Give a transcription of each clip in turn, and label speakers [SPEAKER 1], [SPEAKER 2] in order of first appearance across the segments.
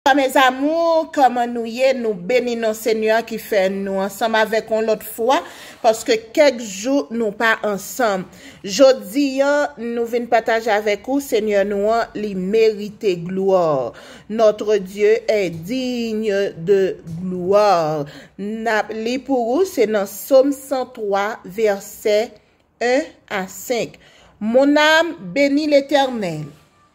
[SPEAKER 1] Bonswa mes amours kòman nou ye nou beni non senyè a ki fè nou ansanm avèk yon lòt fwa paske kèk jou nou pa ansanm jodi an nou vin pataje avèk ou senyè nou an li merite gloire notre Dieu est digne de gloire nap li pou ou se nan som 103 vèsè 1 a 5 mon âme béni l'Éternel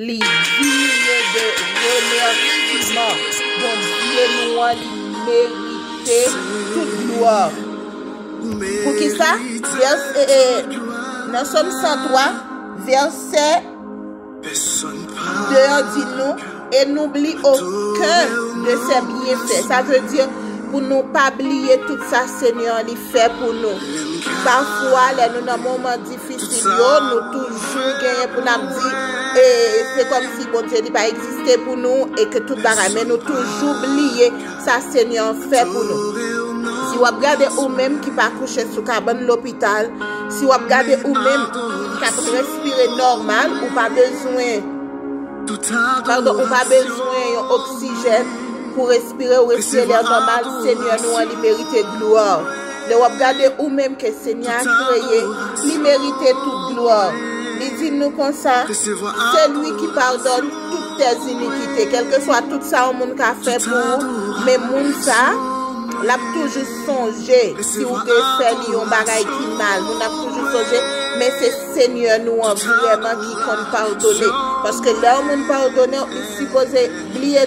[SPEAKER 1] Li digne de remerciement. Bondye nou an li merite tout glwa. Poukisa? Nan Sòm 103 vèsè 2 an di nou, E nou bli oken de se byenfè. Sa vle di pou nou pa bliye tout sa Senyè an li fè pou nou. Pafwa lè nou nan moman difisil. Pitit yo nou toujou genyen pou nap di e se kom si Bondye li pa egziste pou nou e ke tout bagay men nou toujou bliye sa Senyè an fè pou nou. Si wap gade ou menm ki pa kouche sou kabann lopital, si wap gade ou menm kap respire nòmal ou pa bezwen pardon ou pa bezwen yon oksijèn pou respire ou respire lè nòmal Senyè nou an li merite glwa. Lè wap gade ou menm ke Senyè a kreye, li merite tout glwa. Li di nou konsa, Se li ki padone tout tez inikite. Kelkeswa tout sa yon moun ka fè pou ou, men moun sa, lap toujou sonje si ou te fè li yon bagay ki mal. Moun nan ap toujou sonje, men se Senyè nou an vreman ki konn padone. Paske lè yon moun padonew, li sipoze bliye.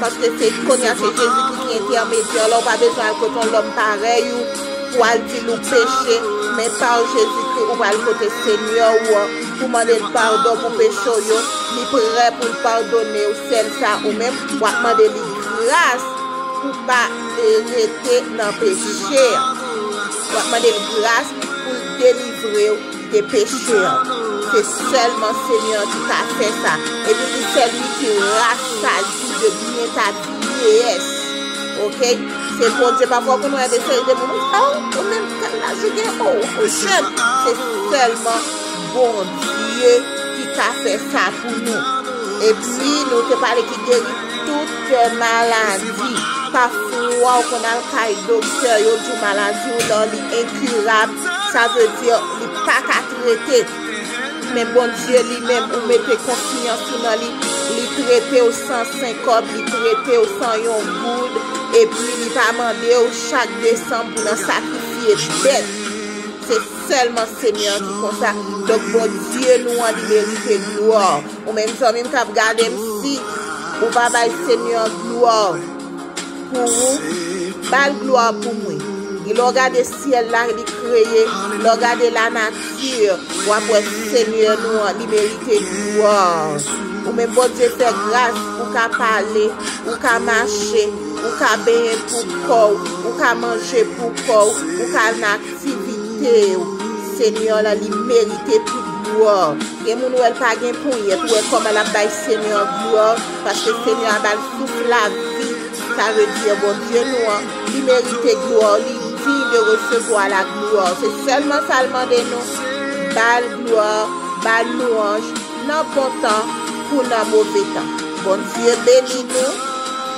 [SPEAKER 1] Paske se kounye a se Jezi ki ki entèmedyè la, ou pa bezwen al kote yon lòm parèy ou pou w al di l ou peche, men pa Jezikri ou pral kote Senyè ou an pou w mande l padon pou peche w yo, li prè pou l padone w sèl sa ou menm w ap mande li gras pou w pa rete nan peche, w ap mande l gras pou l delivre w. te peche an, se sèlman Senyè an ki ka fè sa, epi pou sèl li ki rasaji de byen ta vyeyès, ok, se Bondye, pafwa konn wè de seri de moun, ou sa ou, ou menm tel laj ou gen, ou ou jèn, se sèlman Bondye ki ka fè sa pou nou, epi nou te pale ki geri tout te maladi, pafwa ou konn al kay doktè, yo di w maladi w lan li enkirab, Sa vle di li paka trete. Men Bondye li menm ou mete konfyans ou nan li, li tretew san senkòb, li tretew san yon goud, epi li pa mandew chak desanm pou nan sakrifye bèt. Se sèlman Senyè an ki konsa. Donk Bondye nou an li merite glwa. Ou menm zanmim kap gadem si ou pa bay Senyè an glwa. Pou ou Bal glwa pou mwen Gen lè w gade syèl la li kreye Lè w gade la nati Wap wè senyè nou an li merite glwa Ou menm Bondye fè gras Ou ka pale Ou ka mache Ou ka benyen pou kò w Ou ka manje pou kò w Ou ka al nan aktivite w Senyè w la li merite tout glwa. Gen moun wèl pa gen ponyèt ou wè kòman lap bay Senyè glwa paske Senyè a bal souf lavi sa vle di Bondye nou an li merite glwa li diy de resevwa la glwa se sèlman sal mande nou bal glwa bal lwanj nan bon tan kou nan move tan Bondye beni nou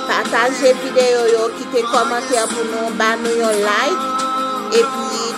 [SPEAKER 1] pataje videyo yo kite kòmantè pou nou ba nou yon like epi